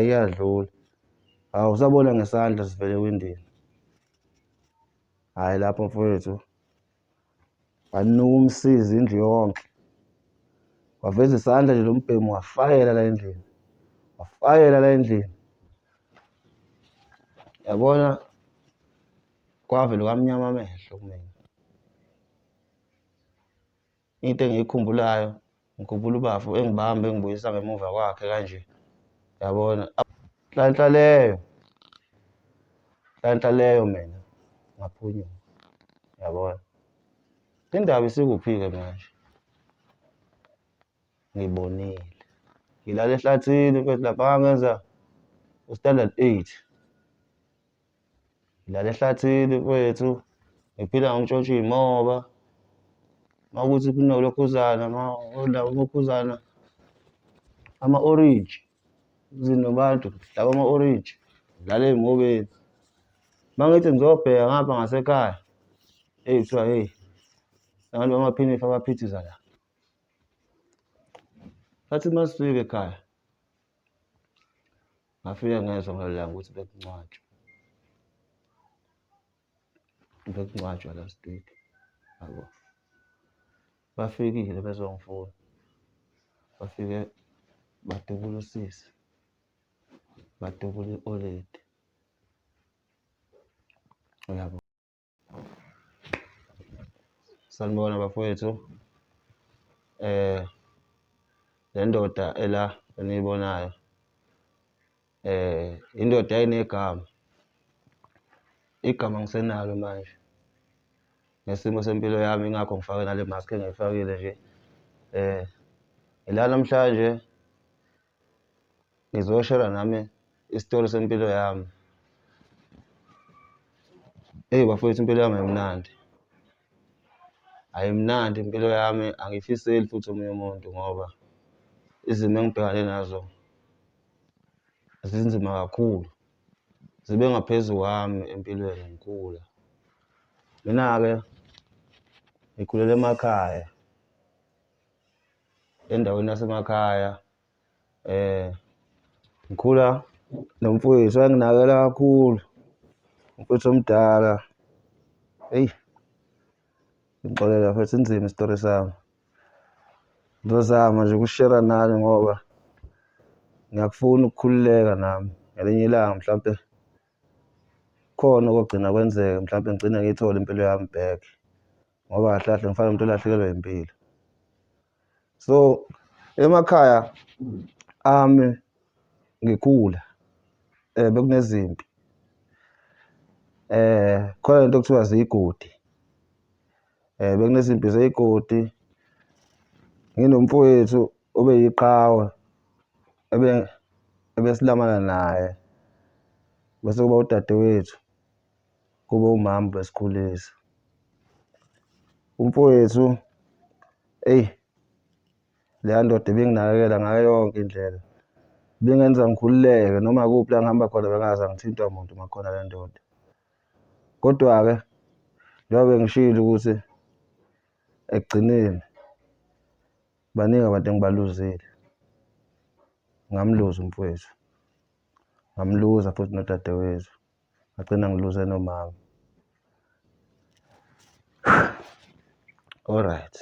iyadlula hawu usabona ngesandla sivele ewindini hhayi lapho mfowethu wanuka umsizi indlu yonke waveza isandla nje lo mbhemu wafayela la endlini wafayela la endlini yabona kwavele kwamnyama amehlo kumina Into engiyikhumbulayo ngikhumbula ubafo engibamba engibuyisa ngemuva kwakhe kanje yabona nhlanhla leyo nhlanhla leyo mina ngaphunyuka yabona indaba isikuphi-ke manje ngibonile ngilala ehlathini mfethu lapha ngangenza u-standard eight. Ngilala ehlathini kwethu ngiphila ngokutshontsha iy'moba uma kuthi kunolokhuzana ulokhuzana ama-orange zinobantu laba ama-orange ngidlala ey'mobeni uma ngithi ngizobheka ngapha ngasekhaya eyi kuthiwa heyi abantu bamaphinifa abaphithiza la athi uma sifika ekhaya Ngafike ngezwa ngalelo langa ukuthi bekungcwatshwa. Bekungcwatshwa last week, yabo. Bafikile bezongifuna. Bafike badubula usisi, badubula i-oledi, uyabo. Sanibona bafowethu le ndoda ela eniyibonayo indoda enegama, igama angisenalo manje ngesimo sempilo yami ingakho ngifake nale maskhi engiyifakile nje ngila namhlanje. ngizoshela nami isitori sempilo yami. Eyi bafowethu impilo yami ayimnandi, ayimnandi impilo yami angiyifiseli futhi omunye umuntu ngoba izimo engibhekane nazo zinzima kakhulu, zibe ngaphezu kwami empilweni ngikhula. Mina-ke ngikhulele emakhaya. endaweni yasemakhaya eh ngikhula nomfowethu wayenginakela kakhulu umfowethu omdala eyi ngixolela futhi inzima isitori sami ngizozama nje ukushera nani ngoba ngiyakufuna ukukhululeka nami ngelinye ilanga mhlampe khona okogcina kwenzeka mhlampe ngigcine ngiyithole impilo yami back. ngoba kahle kahle ngifana umuntu olahlekelwe impilo so emakhaya ami ngikhula eh bekunezimpi eh khona into okuthiwa zigodi eh bekunezimpi zeyigodi nginomfowethu obeyiqhawe ebe ebesilamana naye bese kuba udadewethu. kube umama ubesikhulisa. Umfowethu eyi leya ndoda ibinginakekela ngayo yonke indlela, ibingenza ngikhululeke noma kuphi la ngihamba khona bengaze ngithintwa muntu uma kukhona le ndoda. Kodwa-ke njengoba bengishilo ukuthi ekugcineni baningi abantu engibaluzile, ngamluza umfowethu, ngamluza futhi nodadewethu. ngagcina ngiluze nomama alright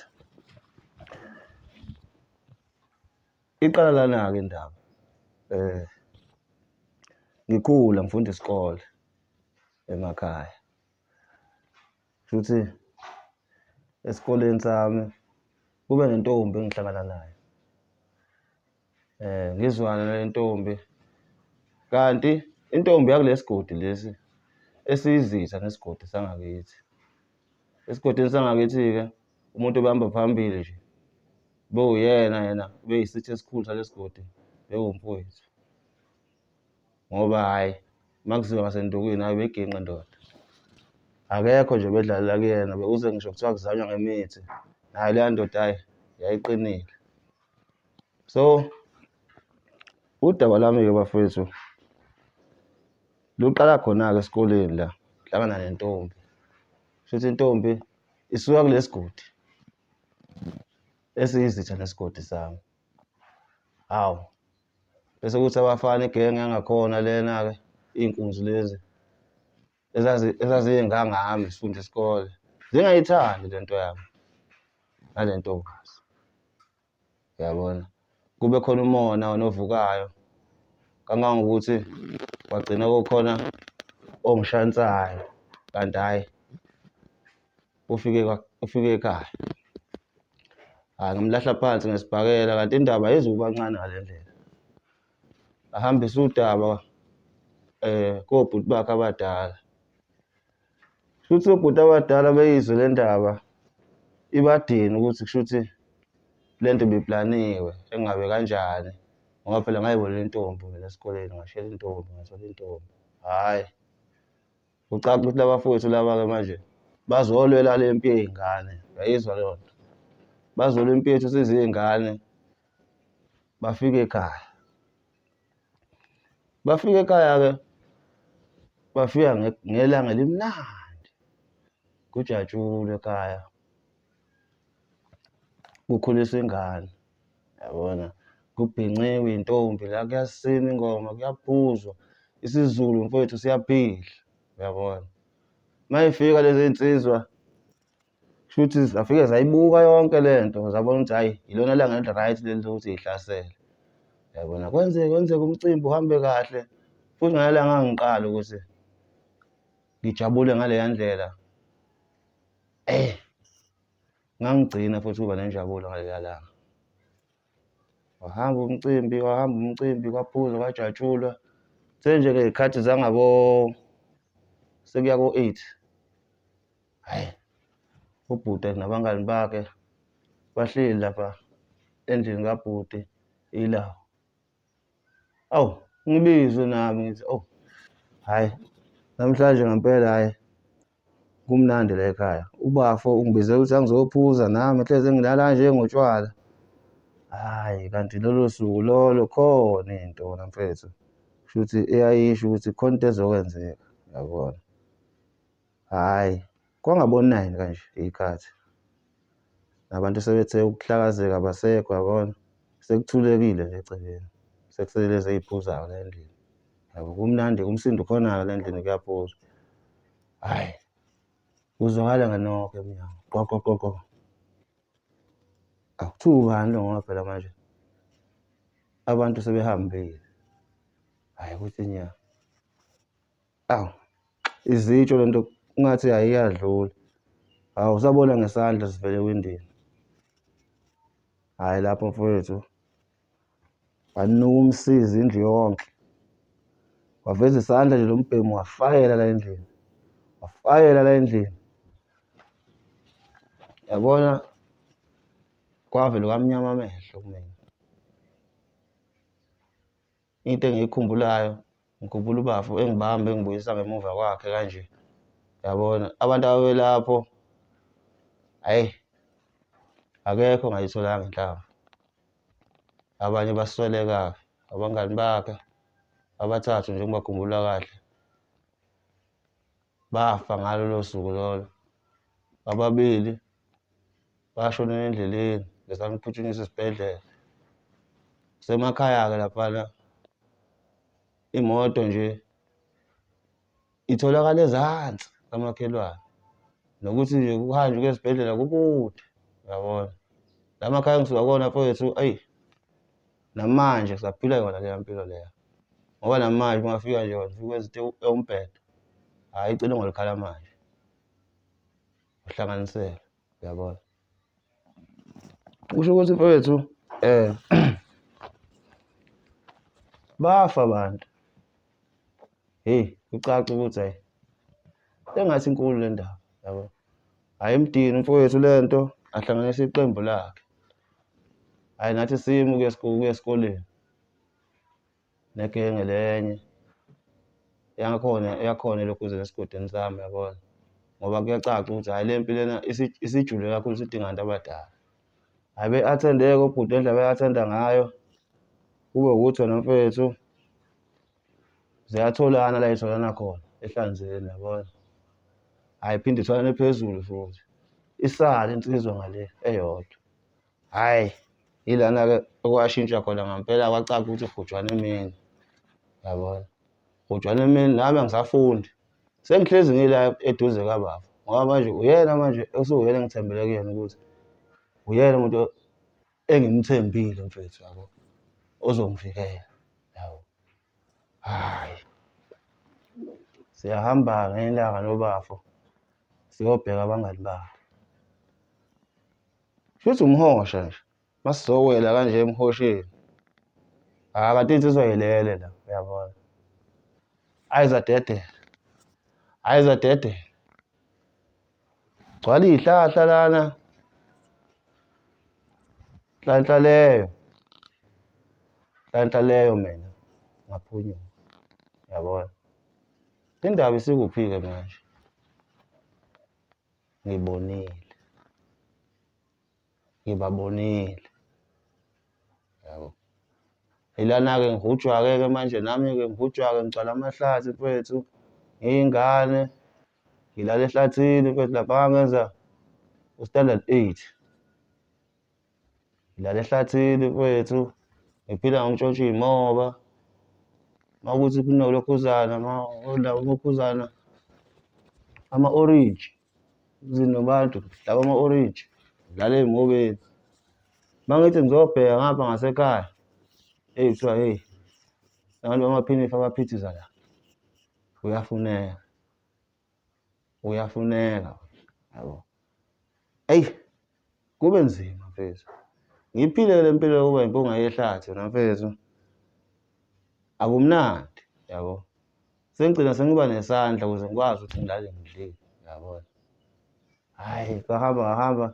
iqala lana-ke indaba um ngikhula ngifunda isikole emakhaya shuthi esikoleni sami kube nentombi engihlangana nayo Eh ngizwana nentombi. Kanti intombi yakulesigodi lesi esiyizitha nesigodi sangakithi. Esigodini sangakithi ke umuntu obehamba phambili nje bewuyena yena beyisitha esikhulu salesigodi bewumfowethu. Ngoba hayi makuziwa ngasendukwini hayi beginqa ndoda. Akekho nje bedlalela kuyena bekuze ngisho kuthiwa kuzanywa ngemithi. Nayo leya ndoda hayi yayiqinile. So udaba lami-ke bafethu luqala khona-ke esikoleni la hlangana nentombi shuthi intombi isuka kulesigodi esiyizitha nesigodi sami hawu bese kuthi abafana igenge yangakhona lena-ke iy'nkunzi lezi ezazingangami sifunda isikole zingayithandi le nto yami nale ntombazi yabona kube khona umona onovukayo kangangokuthi wagcina kukhona ongishansayo kanti hhayi ufike ufike ekhaya hhayi ngamlahla phansi ngesibhakela kanti indaba ayizukuba ncane ngale ndlela ahambise udaba um kobhuti bakhe abadala. Shuthi obhuti abadala beyizwe le ndaba ibadini ukuthi kushuthi le nto ibiplaniwe engabe kanjani ngoba phela ngayibona intombi mina esikoleni ngashela intombi ngathola intombi hhayi kucaca ukuthi laba fowethu laba-ke manje bazolwela le mpi yey'ngane uyayizwa leyo nto bazolwa impi yethu siziy'ngane bafika ekhaya bafika ekhaya-ke bafika ngelanga elimnandi kujatshulwe ekhaya kukhuliswa ingane yabona kubhinqiwe intombi la kuyasina ingoma kuyaphuzwa isiZulu mfowethu siyaphila uyabona mayifika lezi nsizwa Shuthi zafike zayibuka yonke le nto zabona ukuthi hhayi yilona langa eli-right leli lokuthi yihlasele. Yabona kwenzeke kwenzeka umcimbi uhambe kahle futhi ngale langa ngiqala ukuthi ngijabule ngaleya ndlela. Eh ngangigcina futhi ukuba nenjabulo ngaleya langa. Wahamba umcimbi, wahamba umcimbi, kwaphuzwa, kwajatshulwa. Senje-ke iy'khathi zangabo sekuya ko-eight. Hhayi, ubhuti nabangani bakhe bahleli lapha endlini kabhuti ilawo. Awu, ngibizwe nami ngithi, oh, hhayi, namhlanje ngempela hhayi, kumnandi la ekhaya. Ubafo ungibize ukuthi angizophuza nami, hleze ngilala nje ngotshwala. Hhayi, kanti lolo suku lolo khona into wena mfethu. Kusho ukuthi eyayisho ukuthi khona into ezokwenzeka, yabona. Hhayi, kwangabonayini kanje ikhathi. Nabantu sebethe ukuhlakazeka abasekho yabona. Sekuthulekile nje egcekeni. Sekusele lezi ey'phuzayo la endlini. Yabo kumnandi kumsindo khona-ke la endlini kuyaphuzwa. Hhayi, kuzwakala ngenoko emnyango. Qoqoqoqo. Akuthiwa ubani lo ngoba phela manje abantu sebehambile. Hhayi ukuthi nya. Awu izitsho lento ngathi ayiyadlula. Hawu usabona ngesandla sivele ewindini. Hayi lapho mfowethu. Wanuka umsizi indlu yonke. Waveza isandla nje lombhemu wafayela la endlini. Wafayela la endlini. Yabona kwavele kwamnyama amehlo kumina. Into engiyikhumbulayo ngikhumbula ubafo engibamba engibuyisa ngemuva kwakhe kanje yabona abantu ababelapho ayi akekho ngayitholanga inhlamba abanye basweleka abangani bakhe abathathu nje ngibakhumbula kahle bafa ngalolo suku lolo ababili bashonela endleleni ngizama ukuphuthunyiswa esibhedlela kusemakhaya-ke laphana imoto nje itholakala ezansi kamakhelwane nokuthi nje kuhanjwe kwesibhedlela kukude yabona la makhaya engisuka kona mfowethu ayi Namanje saphila yona leya mpilo leya ngoba namanje ungafika nje wafika ezithe umbhedo hhayi icele ngolikhala manje uhlanganisele uyabona kusho ukuthi mfowethu um bafa abantu heyi kucaca ukuthi hayi engathi inkulu le ndaba yabo hhayi imdini mfowethu le nto ahlanganisa iqembu lakhe hhayi nathi simu kuye esikoleni negenge lenye yakhona yakhona elokhuzeni esigodini sami yabona ngoba kuyacaca ukuthi hhayi le mpi lena isijule kakhulu sidinga abantu abadala. Hayi be-attendeke ubhuti le ndlela be-athenda ngayo kube ukuthi wena mfethu ziyatholana la yitholana khona ehlanzeni yabona hhayi phinde itholane phezulu futhi isale insizwa ngale eyodwa hhayi yilana-ke okwashintsha khona ngampela kwacaca ukuthi ugujwana emini yabona ugujwana emini nami angisafundi Sengihlezi ngila eduze kababa ngoba manje uyena manje usuwuyena engithembele kuyena ukuthi uyena umuntu engimthembile mfethu yabo ozongivikela yabo hayi siyahamba ngelanga lobafo siyobheka abangani bakhe shuthi umhosha nje Masizowela kanje emhosheni. Ah kanti insizwa yelele la uyabona. Ayizadedela. Ayizadedela. Gcwala izihlahla lana. Nhlanhla leyo. Nhlanhla leyo mina ngaphunyuka. Uyabona? Indaba isikuphi-ke manje? Ngibonile. ngibabonile. Yabo. Ilana-ke ngihujwa-ke-ke manje nami-ke ngihujwa-ke ngigcwala amahlathi mfethu, ngiyingane, ngilala ehlathini mfethu lapha ngangenza u-standard eight. Ngilala ehlathini mfethu, ngiphila ngokutshontsha iy'moba. Uma kuthi kunolokhuzana, uma ulokhuzana, ama-orenji. zinobantu laba ama-orange dlala ey'mobeni uma ngithi ngizobheka ngapha ngasekhaya eyi kuthiwa heyi abantu bamaphinifa abaphithiza la uyafuneka uyafuneka yabo eyi Kube nzima mfethu. Ngiphile le mpilo yokuba impunga yehlathi wena mfethu. Akumnandi, yabo. Sengigcina sengiba nesandla ukuze ngikwazi ukuthi ngilale ngidlile, yabo. Hhayi, kwahamba ngahamba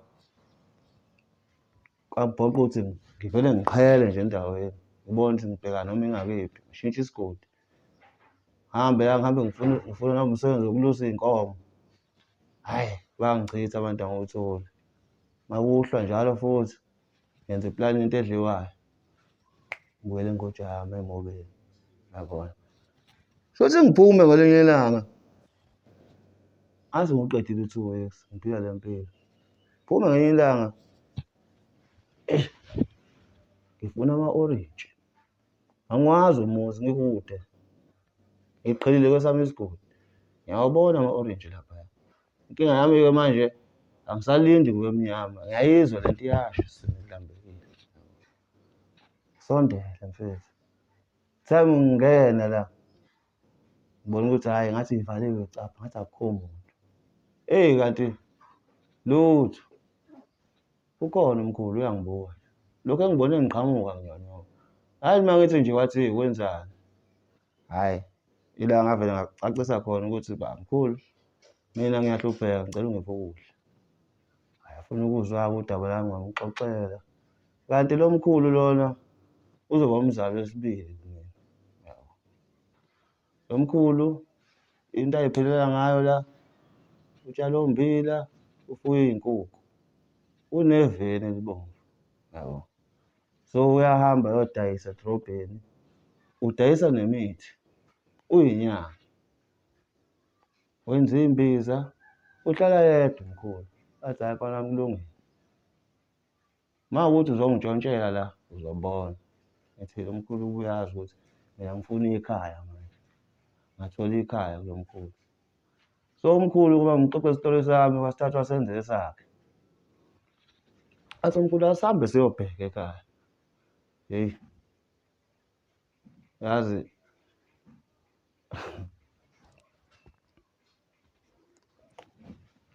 kwabhoqa ukuthi ngivele ngiqhele nje endaweni ngibone ukuthi ngibheka noma ingakephi ngishintshe isigodi hambe la ngihambe ngifuna ngifuna noma umsebenzi wokulusa iy'nkomo Hhayi, bangichitha abantu angiwutholi. Makuhlwa njalo futhi ngenza iplani into edliwayo. Ngibuyele ingoja yami emobeni. Yabona. Shothi ngiphume ngelinye ilanga. Azi ngiqedile u-two weeks, ngiphila le mpilo. Phuma ngelinye ilanga. Eish, ngifuna ama-orintshi. Angiwazi umuzi ngikude. Ngiqhelile kwesami isigodi. Ngiyawabona ama-orange laphaya. Inkinga yami-ke manje angisalindi kube mnyama. Ngiyayizwa lento iyasho sengilambekile. Sondela mfethu. Kuthiwa ngingena la. Ngibona ukuthi hhayi ngathi ngivaliwe capha ngathi akukho muntu. Eyi kanti lutho. Ukhona umkhulu uyangibona. Lokhu engibone ngiqhamuka nginyonyoka. Hayi uma ngithi nje wathi wenzani. Hayi ila ngavele ngacacisa khona ukuthi ba mkhulu mina ngiyahlupheka ngicela ungiphe ukudla. Ayafuna ukuzwa-ke udaba lami ngamxoxela. Kanti lo mkhulu lona uzoba umzali wesibili. Nomkhulu into ayiphilela ngayo la utshala ommbila ufuye iy'nkukhu uneveni elibomvu yabo so uyahamba yodayisa edrobheni udayisa nemithi uyinyanga wenza iy'mbiza uhlala yedwa mkhulu athi hhayi kona kulungile. Uma ukuthi uzongitshontshela la uzobona. Ngithile umkhulu uyazi ukuthi mina ngifuna ikhaya manje. Ngathola ikhaya kulo mkhulu. So umkhulu kuba ngixoxe isitolo sami wasithatha wasenza esakhe. Athi umkhulu asihambe siyobheka ekhaya. Yeyi. Yazi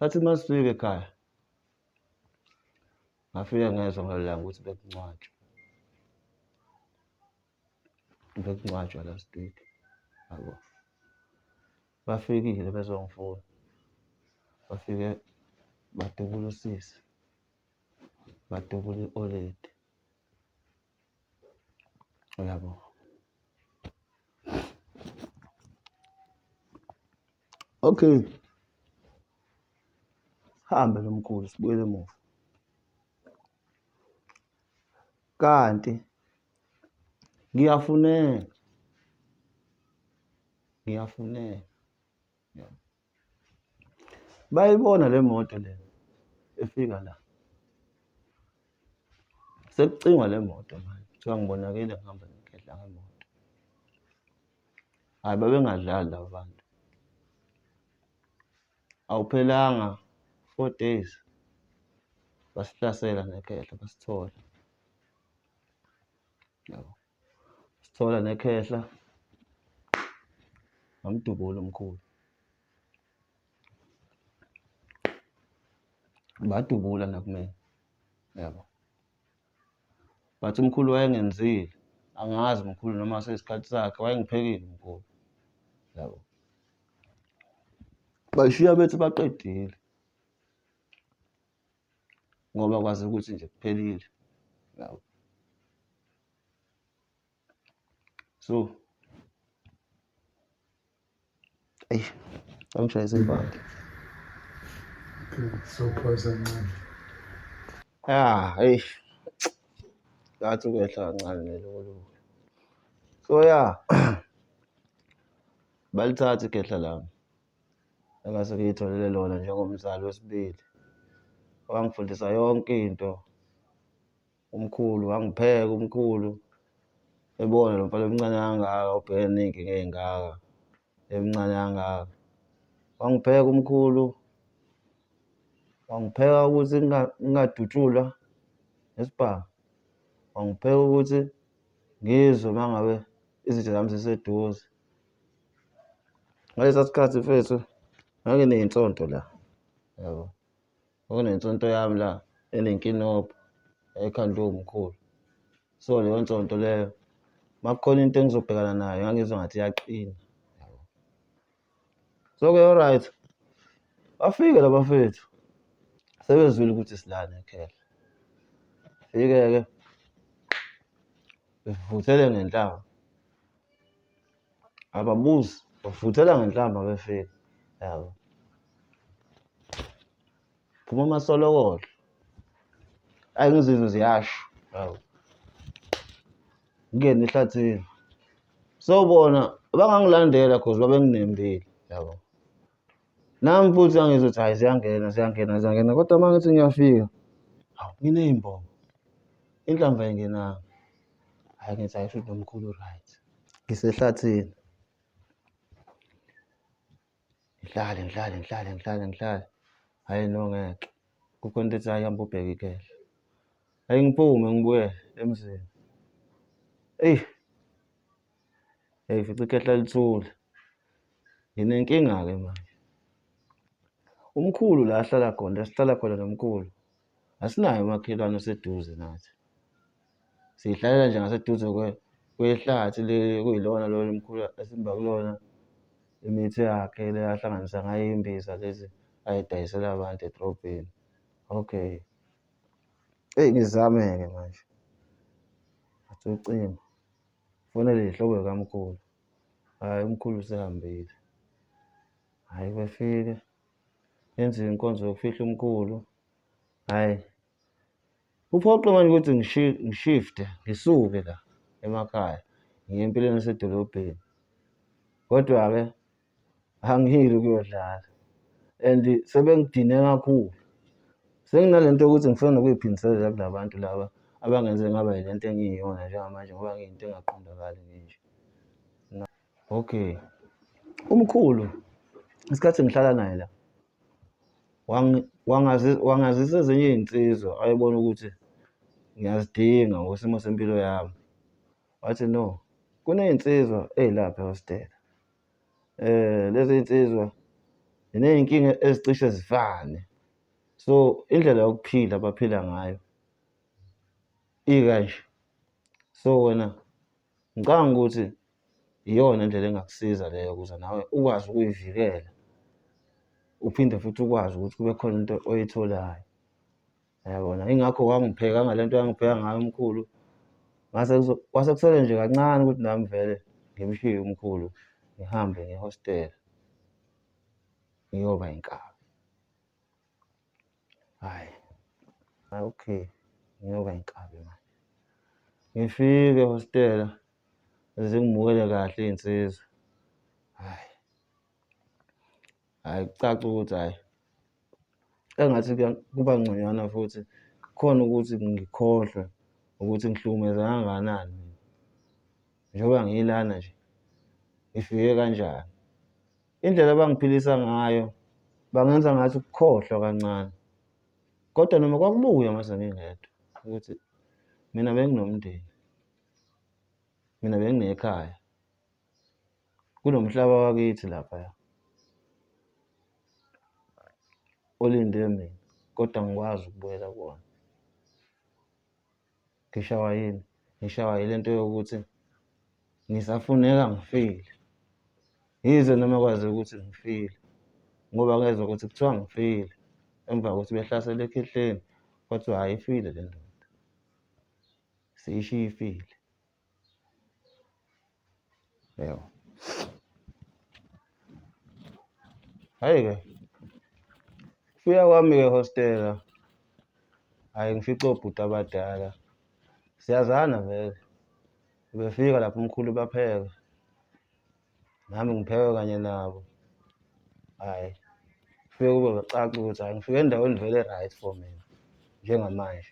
Sathi uma sifika ekhaya Ngafike ngezwa ngalelo langa ukuthi bekungcwatshwa. Bekungcwatshwa last week, yabo. Bafikile bezongifuna, bafike badubula usisi, badubula i-old lady. Uyabo? Okay. Hambe lo mkhulu sibuyele emuva. Kanti ngiyafuneka. Ngiyafuneka. Bayibona le moto le efika la. Sekucingwa le moto manje. Kuthiwa ngibonakele ngihamba ngigedla ngemoto. Hhayi babengadlali laba bantu. Awuphelanga four days basihlasela nekhehla basithola. Yabo. sithola nekhehla nomdubula omkhulu badubula nakumina yabo but umkhulu wayengenzile angazi umkhulu noma seyisikhathi sakhe wayengiphekile umkhulu yabo bashiya bethi baqedile ngoba kwazi ukuthi nje kuphelile yabo so eyi angishayise ibhanti sophosa ncane ya eyi ngathi ukwehla kancane nelokolo so ya balithatha ikhehla lami engase ngiyitholele lona njengomzali wesibili. Wangifundisa yonke into umkhulu, wangipheka umkhulu ebona lo mfana omncane kangaka obhekene ney'nkinga ey'ngaka emncane kangaka. Wangipheka umkhulu, wangipheka ukuthi ngingadutshulwa nesibhamu, wangipheka ukuthi ngizwe uma ngabe izitha zami ziseduze. ngalesa sikhathi mfethu ngake ney'nsonto la yabo kwakunensonto yami la enenkinobho ekhandwe umkhulu so leyo nsonto leyo makukhona into engizobhekana nayo ngangizwa ngathi iyaqina so-ke alright bafike la bafethu sebezwile ukuthi silana ekhela fike-ke bevuthele ngenhlamba ababuzi bafuthela ngenhlamba befika yabo phuma amasolokodlo ayi ngizizwe ziyasho yabo ngingena ehlathini so bona bangangilandela cause babenginembile yabo Nami futhi angizwa ukuthi hhayi ziyangena ziyangena ziyangena kodwa uma ngithi ngiyafika hawu nginey'mbongo inhlamba engenanga hhayi ngithi hhayi shuthi nomkhulu right ngisehlathini ngihlale ngihlale ngihlale ngihlale ngihlale hhayi no ngeke kukho into ethi hhayi hamba ubheke ikehla hhayi ngiphume ngibuyele emzini eyi yayifica ikhehla lithule. Nginenkinga-ke manje. Umkhulu la ahlala khona, la sihlala khona nomkhulu, asinaye umakhelwane oseduze nathi. Sihlalela nje ngaseduze kwehlathi leli okuyilona lolu mkhulu esimba kulona imithi yakhe le ahlanganisa ngayo imbiza lezi ayidayisela abantu edrobheni. Okay. Eyi ngizame-ke manje. Ngathi ucingo. Fonele ihlobo likamkhulu. Hhayi umkhulu usehambile. Hhayi befike. Yenziwe inkonzo yokufihla umkhulu. Hhayi. Kuphoqe manje ukuthi ngishifte, ngisuke la emakhaya. Ngiye empilweni esedolobheni. Kodwa-ke angiyili ukuyodlala and sebengidine kakhulu senginale nto yokuthi ngifuna nokuyiphindiselela kula bantu laba abangenze ngaba yile nto engiyiyona njengamanje ngoba ngiyinto engaqondakali nje okay umkhulu isikhathi ngihlala naye la wangazisa ezinye iy'nsizwa ayebona ukuthi ngiyazidinga ngokwesimo sempilo yami wathi no kuney'nsizwa ey'lapha ehostela lezi nsizwa ziney'nkinga ezicishe zifane. So, indlela yokuphila abaphila ngayo ikanje. So, wena ngicabanga ukuthi iyona indlela engakusiza leyo ukuze nawe ukwazi ukuyivikela, uphinde futhi ukwazi ukuthi kube khona into oyitholayo. Yabona ingakho wangipheka ngalento yangipheka ngayo umkhulu. Ngase kwase kusele nje kancane ukuthi nami vele ngimshiye umkhulu ngihambe ngehostela ngiyoba inkabi. Hayi. Hayi okay ngiyoba inkabi manje. Ngifike ehostela zingimukele kahle iy'nsizwa. Hhayi. hhayi kucaca ukuthi hhayi engathi kuba ngconywana futhi khona ukuthi ngikhohlwe ukuthi ngihlukumeza kangakanani mina njengoba ngilana nje ngifike kanjani indlela abangiphilisa ngayo bangenza ngathi ukukhohlwa kancane kodwa noma kwakubuya mase ngingedwa ukuthi mina benginomndeni mina benginekhaya Kunomhlaba wakithi laphaya olinde mina kodwa ngikwazi ukubuyela kuwona. Ngishawa yini? Ngishawa yile nto yokuthi ngisafuneka ngifile. Yize noma kwazi ukuthi ngifile ngoba ngezwa ukuthi kuthiwa ngifile emva kokuthi behlasele ekhehleni kwathiwa hhayi ifile le ndoda siyishiye ifile. Eyo. Hayi ke. Fika kwami ke hostela. Hayi ngifica obhuti abadala. Siyazana vele. Befika lapho umkhulu bapheka. nami ngiphewe kanye nabo hhayi kufike kube bacaca ukuthi hhayi ngifike endaweni vele right for mina njengamanje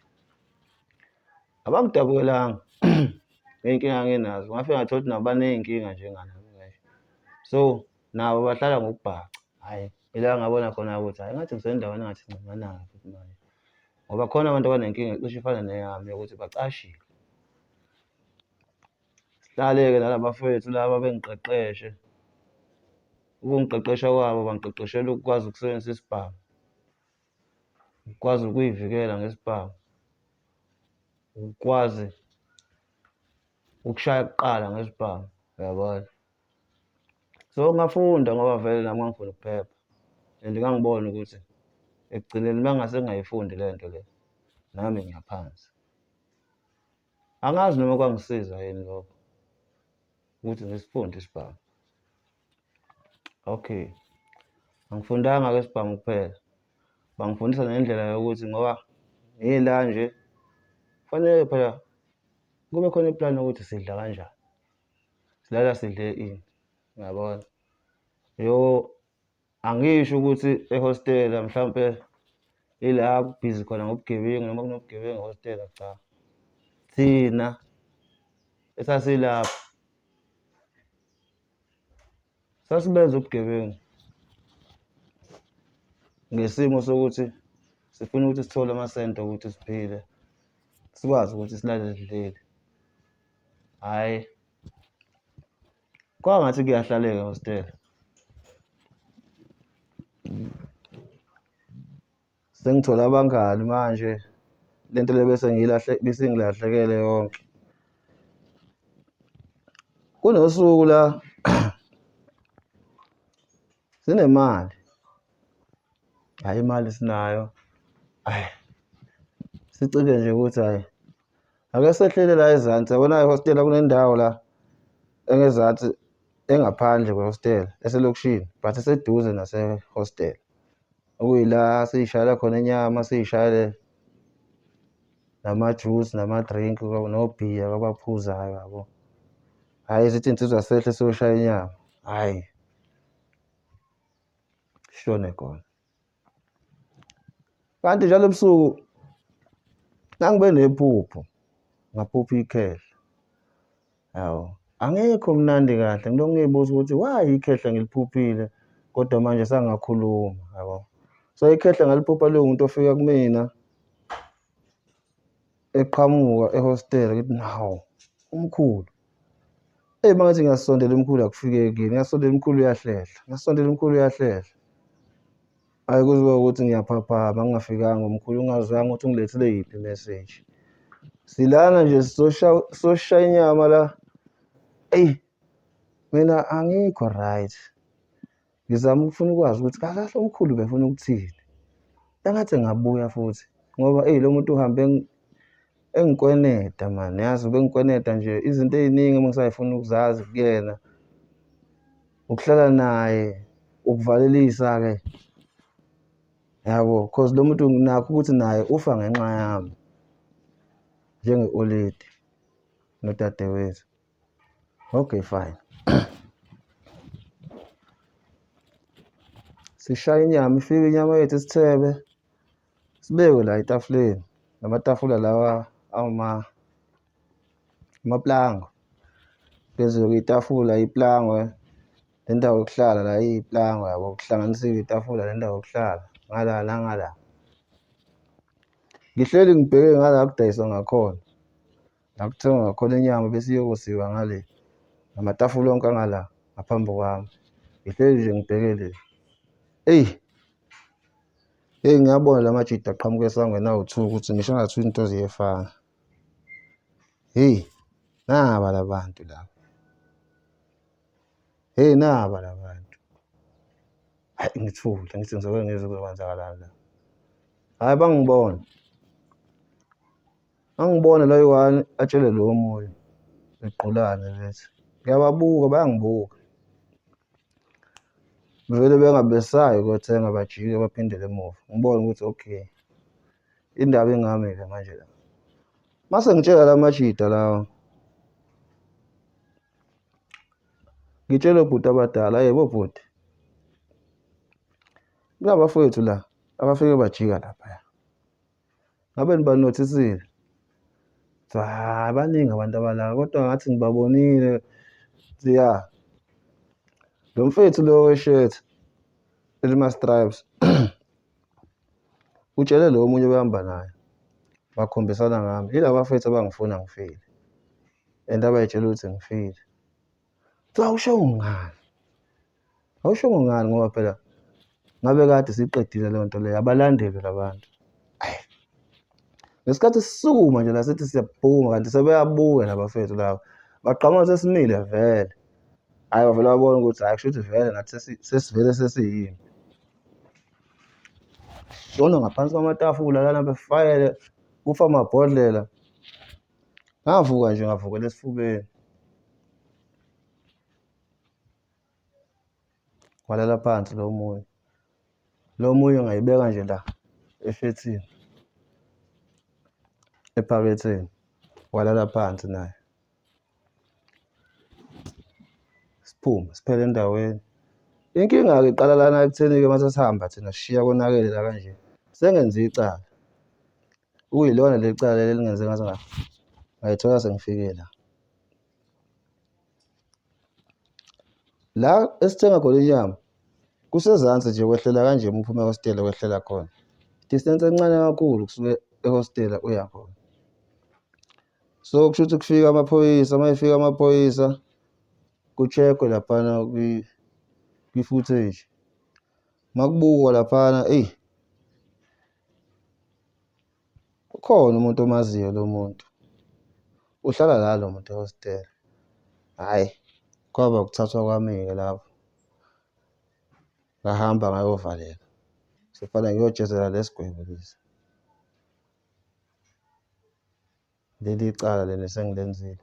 abakudabukelanga ngey'nkinga nginazo ngafike ngathola ukuthi nabo baney'nkinga njengana so nabo bahlala ngokubhaca hhayi ila ngabona khona ukuthi hhayi ngathi ngisendaweni engathi ncinanayo futhi manje ngoba khona abantu abanenkinga cishe ifana neyami yokuthi bacashile Sihlale-ke nalabafwethu laba bengiqeqeshe, ukungiqeqesha kwabo bangiqeqeshela ukukwazi ukusebenzisa isibhamu, ukukwazi ukuy'vikela ngesibhamu, ukukwazi ukushaya kuqala ngesibhamu, uyabona? So ngafunda ngoba vele nami ngangifuna ukuphepha and ngangibona ukuthi ekugcineni uma ngase ngingayifundi le nto le, nami ngiyaphansi. Angazi noma kwangisiza yini lokho ukuthi ngisifunde isibhamu. Okay, angifundanga ke isibhamu kuphela, bangifundisa nendlela yokuthi ngoba ngila nje kufanele phela kube khona ipulani yokuthi sidla kanjani, silala sidle ini, ngiyabona. Yho! Angisho ukuthi ehostela mhlampe ila kubhizi khona ngobugebengu noma kunobugebengu ehostela cha. Thina esasilapho sasibenza ubugebengu ngesimo sokuthi sifuna ukuthi sithole amasente okuthi siphile sikwazi ukuthi silale sidlile hhayi Kwaba ngathi kuyahlaleka hostela. Sengithola abangani manje lento le bese ngilahle besengilahlekele yonke. Kunosuku la Sinemali. Hhayi imali sinayo. Hhayi. Sicike nje ukuthi hhayi. Ake sehlele la ezansi. Yabona ihostela kunendawo la engezansi engaphandle kwehostela eselokishini but eseduze nasehostela. Okuyila siyishayela khona inyama siyishayele nama-juice nama-drink nobhiya kwabaphuzayo yabo. Hhayi zithi insizwa sehle siyoshaya inyama. Hhayi. shone khona kanti njalo ebusuku nangibe nephupho ngaphupha ikhehla yawo angekho mnandi kahle ngilokhu ngiyibuza ukuthi why ikhehla ngiliphuphile kodwa manje sangakhuluma yabo so ikhehla ngaliphupha liwumuntu ofika kumina eqhamuka ehostela ngithi nawu umkhulu eyi mangathi ngiyasondela umkhulu akufikekile ngiyasondela umkhulu uyahlehla ngiyasondela umkhulu uyahlehla ayi kuziwa ukuthi ngiyaphaphama ngingafikanga umkhulu ungazange ukuthi ungilethele yiphi imeseji silana nje sizoshaya inyama la eyi mina angikho right Ngizama ukufuna ukwazi ukuthi kakahle umkhulu befuna ukuthini. Engathi ngabuya futhi ngoba eyi lo muntu uhambe engikweneta mani yazi ubengikweneta nje izinto ey'ningi uma ngisayifuna ukuzazi kuyena ukuhlala naye ukuvalelisa-ke yabo cause lo muntu nakho ukuthi naye ufa ngenxa yami njenge-oledi nodadewethu Okay fine. Sishaya inyama ifike inyama yethu isithebe sibeke la etafuleni namatafula lawa awuma amaplanga phezulu kwetafula iplangwe nendawo yokuhlala la iplangwe yabo kuhlanganisiwe itafula nendawo yokuhlala ngala nangala ngihleli ngibheke ngala kudayiswa ngakhona Ngakuthenga ngakhona inyama bese iyokosiwa ngale namatafula onke angala ngaphambi kwami ngihleli nje ngibheke le eyi eyi ngiyabona la majidi aqhamuka esangweni awu-two ukuthi ngisho ngathi into ziyefana heyi naba la bantu laba heyi naba la bantu hayi ngithule ngithi ngizoke ngizwe kuzokwenzakalani la hhayi bangibona Ngangibona la eyi-one atshele lo omunye sigqulane bethi ngiyababuka bayangibuka. Bevele bengabesabi ukuyothenga bajike baphindele emuva. Ngibone ukuthi okay indaba ingami-ke manje la. Mase ngitshela la majita lawa ngitshele bhuti abadala yebo bhuti kunabafowethu la abafike bajika laphaya Ngabe nibanothisile? Kuthiwa, hhayi baningi abantu abala kodwa ngathi ngibabonile. Ngithi, ya. Lo mfethu lo weshirt elima-stripes utshele lo omunye obehamba naye, bakhombisana ngami. Yilaba bafethu abangifuna ngifile and abay'tshela ukuthi ngifile. Cha awushongo ngani? Awushongo ngani ngoba phela ngabe kade siqedile leyo nto leyo abalandeli labantu. Ayi. Ngesikhathi sisukuma nje la sithi siyaphuma kanti sebeyabuya labafethu laba. Bagqama sesimile vele. Hayi bavele babona ukuthi hayi kusho ukuthi vele nathi sesivele sesiyini. Shono ngaphansi kwamatafula lana befayele kufa amabhodlela. Ngavuka nje ngavukela esifubeni. Walala phansi lo omunye. Lo omunye ngayibeka nje la efethini. Ephaketheni. Walala phansi naye. Siphume siphele endaweni. Inkinga-ke iqala lana ekutheni-ke uma sesihamba thina sishiya konakele la kanje. Sengenze icala. Kuyilona leli cala leli elingenze ngathi ngayithola sengifike la. La esithenga khona inyama kusezansi nje wehlela kanje uma uphuma ehostela wehlela khona. Distance encane kakhulu kusuke ehostela uya khona. So kusho ukuthi kufika amaphoyisa, uma efika amaphoyisa ku-check-we laphana kwi-footage. Uma kubukwa laphana eyi Ukhona umuntu omaziyo lo muntu uhlala la lo muntu ehostela, hhayi kwaba ukuthathwa kwami-ke lapho ngahamba ngayovaleka sekufanele ngiyojezela lesi gwebo lesi leli cala leli esengilenzile.